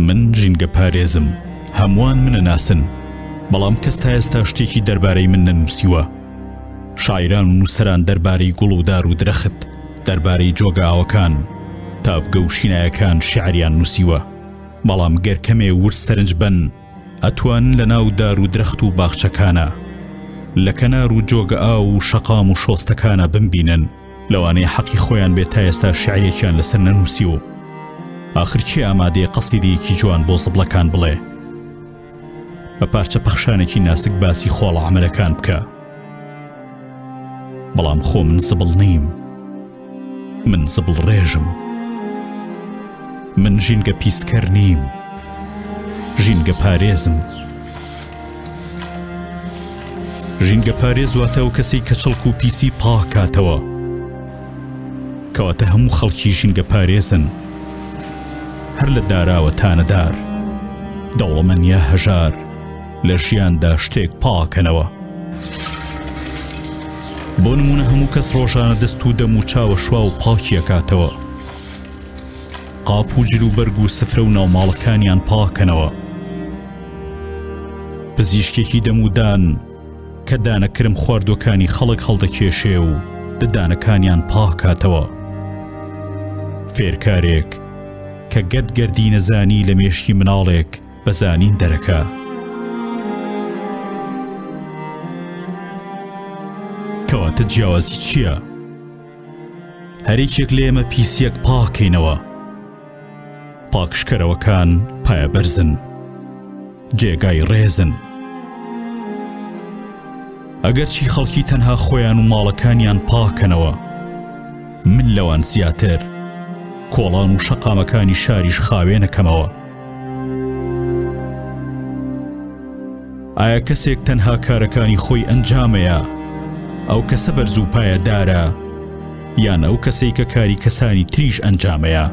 من ژینگە پارێزم هەمووان منە ناسن بەڵام کەس تا ئێستا شتێکی دەربارەی من نەنووسیوە شاعران و نووسەران دەربارەی گوڵ و دار و درەخت دەربارەی جۆگاوەکان تاڤگە و شینایەکان شعریان نووسیوە بەڵام گەر کەمێ ورد سەرنج بەن ئەتوان لە ناو دار و درەخت و باخچەکانا، لە کەنار و جۆگە ئاو و شەقام و شۆستەکانا بمبینن، لەوانەیە حەقی خۆیان بێت تا ئێستا شیعرێکیان لەسەر نەنووسیوم. ئاخر کێ ئامادەیە قەسیدەیەکی جوان بۆ زبڵەکان بڵێ؟ بە پارچە پەخشانێکی ناسک باسی خۆڵە عەمەلەکان بکە. بەڵام خۆ من زبڵ نیم. من زبڵڕێژم من ژینگە پیسکەر نیم ژینگە پارێزم ژینگە پارێز واتە و کەسی کە چڵک و پیسی پاکاتەوە کەواتە هەموو خەڵکی ژینگە پارێزن هەر لە داراوە تانەدار دەوڵەمەن یا هەژار لە ژیاندا شتێک پاکەنەوە بۆ نمونە هەموو کەس ڕۆژانە دەست و دەم و چاوە شوا و پاکیەکاتەوە قاپ و جل و بەرگ و سفرە و ناوماڵەکانیان پاکەنەوە پزیشکێکی دەمودان کە دانەکرم خواردوەکانی خەڵک هەڵدەکێشێ و ددانەکانیان پاکاتەوە فێرکارێک کە گەت گەردی نەزانی لە مێشکی مناڵێک بە زانین دەرەکە. کەواتە جیاوازی چییە؟ هەریکێک لە ئێمە پیسیەک پاکەینەوە. پاکشکەرەوەکان پایەبەرزن. جێگای ڕێزن. ئەگەرچی خەڵکی تەنها خۆیان و ماڵەکانیان پاکەنەوە. من لەوان زیاتر. کۆڵان و شەقامەکانی شاریش خاوێنەکەمەوە. ئایا کەسێک تەنها کارەکانی خۆی ئەنجامەیە ئەو کەسە بەرز و پایەدارە یان ئەو کەسەی کە کاری کەسانی تریش ئەنجامەیە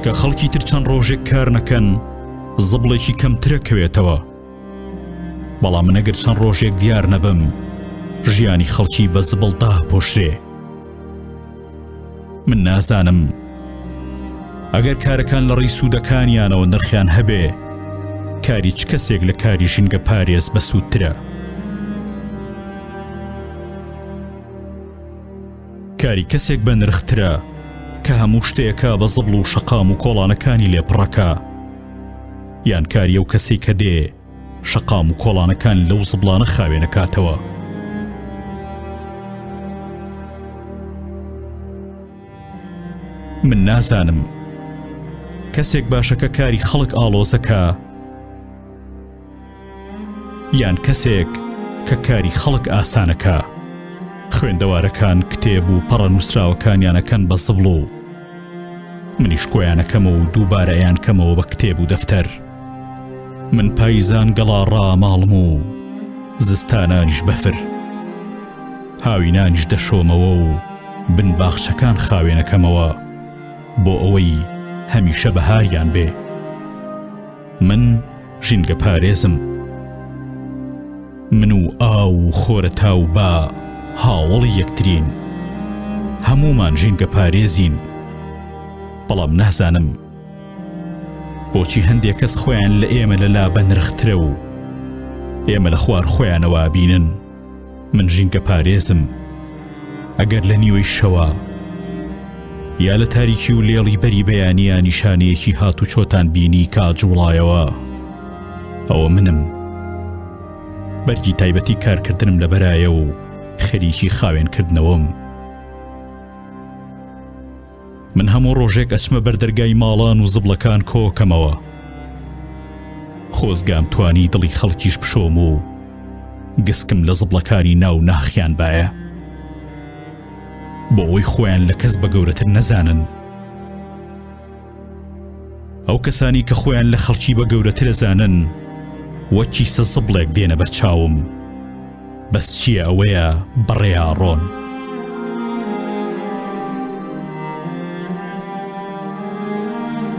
کە خەڵکی تر چەند ڕۆژێک کار نەکەن زبڵێکی کەمترە کەوێتەوە بەڵام من ئەگەر چەند ڕۆژێک دیار نەبم ژیانی خەڵکی بە زبڵ داپۆشرێ من نازانم ئەگەر کارەکان لە ڕێی سوودەکانیانەوە نرخیان هەبێ کاری چ کەسێک لە کاری ژینگە پارێز بە سوودترە کاری کەسێک بە نرخترە کە هەموو شتێکە بە زبڵ و شەقام و کۆڵانەکانی لێپڕەکە یان کاری ئەو کەسەی کە دێ شەقام و کۆڵانەکان لەو زبڵانە خاوێنەکاتەوە. من نازانم کەسێک باشەکە کاری خەڵک ئاڵۆزەکە، یان کەسێک کە کاری خەڵک ئاسانەکا. خوێندەوارەکان کتێب و پەڕە نووسراوەکانیان ئەکەن بە زبڵ و منیش کۆیان ئەکەمەوە و دووبارە ئەیانکەمەوە بە کتێب و دەفتەر. من پایزان گەڵا ڕاماڵم و زستانانیش بەفر. هاوینانیش دەشۆمەوە و بن باخچەکان خاوێنەکەمەوە بۆ ئەوەی هەمیشە بەهاریان بێ. من ژینگە پارێزم. من و ئاو و خۆرەتا و با هاوەڵی یەکترین. هەموومان ژینگە پارێزین. بەڵام نازانم بۆچی هەندێک کەس خۆیان لە ئێمە لە لا بەنرخترە و ئێمە لە خوار خۆیانەوە ئەبینن. من ژینگە پارێزم ئەگەر لە نیوەی شەوە یا لە تاریکی و لێڵی بەری بەیانە نیشانەیەکی هات و چۆتان بینی کە جوڵایەوە ئەوە منم بەرگی تایبەتی کارکردنم لە بەرایە و خەریکی خاوێنکردنەوەم. من هەموو ڕۆژێک ئەچمە بەر دەرگای ماڵان و زبڵەکان کۆکەمەوە. خۆزگام توانی دڵی خەڵکیش بشۆم و گسکم لە زبڵەکانی ناو ناخیان بایە. بۆ ئەوەی خۆیان لە کەس بە گەورەتر نەزانن. ئەو کەسانی کە خۆیان لە خەڵکی بە گەورەترە زانن وەک کیسە زبڵێک دێنە بەر چاوم. بەس چیە ئەوەیە بڕێا ڕۆن.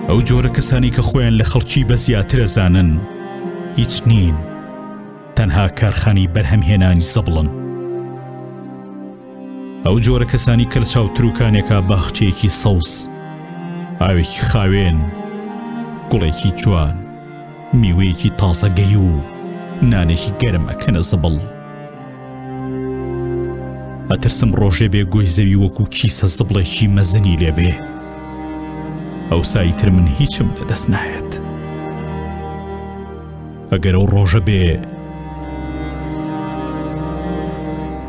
ئەو جۆرە کەسانی کە خۆیان لە خەڵکی بە زیاترە زانن هیچ نین تەنها کارخانی بەرهەمهێنانی زەبڵن ئەو جۆرە کەسانی کە لە چاوتروکانێکا باخچەیەکی سەوز ئاوێکی خاوێن گوڵێکی جوان میوەیەکی تازە گەی و نانێکی گەرم ئەکەنە زبڵ ئەترسم ڕۆژێ بێ گۆی زەوی وەکو کیسە زبڵێکی مەزنی لێبێ ئەو سایتر من هیچم لە دەست نایەت ئەگەر ئەو ڕۆژە بێ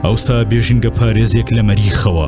ئەوسا بێژنگە پارێزێک لە مەریخەوە